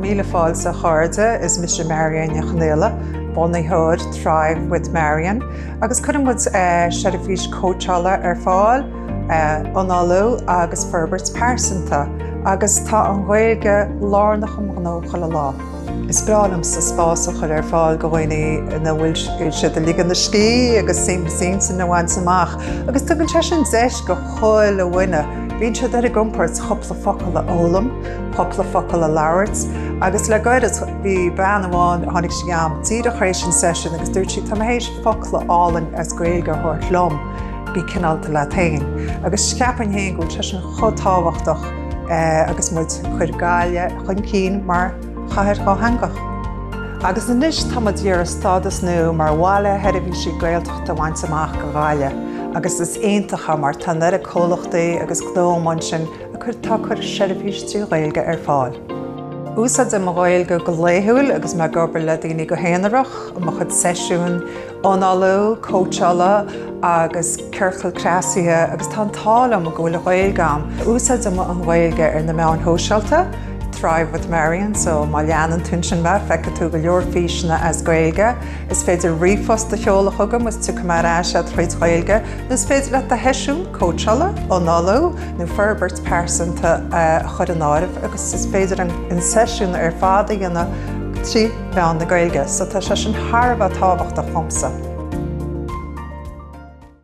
Míle fáilte a chairde, is mise Marian Ní Chonaola, bunaitheoir Thrive with Marian agus cuireann muid seirbhís cóitseála ar fáil, análú agus forbairt pearsanta agus tá an Ghaeilge lárnach i mo ghnó chuile lá. Is breá liomsa spás a chur ar fáil go dhaoine ina bhfuil siad ag ligean a scíth agus suaimhneas intinne a bhaint amach agus tugann sé sin deis go chuile dhuine, bíonn siad ar a gcompord cúpla focal a fhoghlaim, cúpla focal a labhairt agus le gairid bhí bean amháin, tháinig sí a'm díreach tar éis an session agus dúirt sí 'tá mé théis focal álainn as Gaeilge a thabhairt liom, bí cineálta leat fhéin'. Agus ceapaim fhéin go bhfuil sé sin chomh tábhachtach. agus muid ag cur Gaillimh chun cinn mar chathair dhátheangach. Agus anois táimid ag iarraidh stádas nua mar bhaile seirbhísí Gaeltachta a bhaint amach do Ghaillimh agus is iontach mar tá an oiread comhlachtaí agus gnónna ansin ag cur atá ag cur seirbhís trí Ghaeilge ar fáil. Úsáidim an Ghaeilge go laethúil agus mé ag obair le daoine go haonarach, i mo chuid seisiún, Análú, cóitseála agus ciorcal cneasaithe agus tá an t-ádh liom go bhfuil Gaeilge a'm. Úsáidim an Ghaeilge ar na meáin shóisialta, Thrive with Marian, so má leanann tú ansin mé feicfidh tú go leor físeanna as Gaeilge. Is féidir ríomhphost a sheoladh chugam is tiocfaidh mé ar ais a'd trí Ghaeilge nó is féidir leat do sheisiún cóitseála, análú nó forbairt pearsanta a chur in áirithe agus is féidir an seisiún ar fad a dhéanamh trí mheán na Gaeilge, so tá sé sin thar a bheith tábhachtach dhomsa.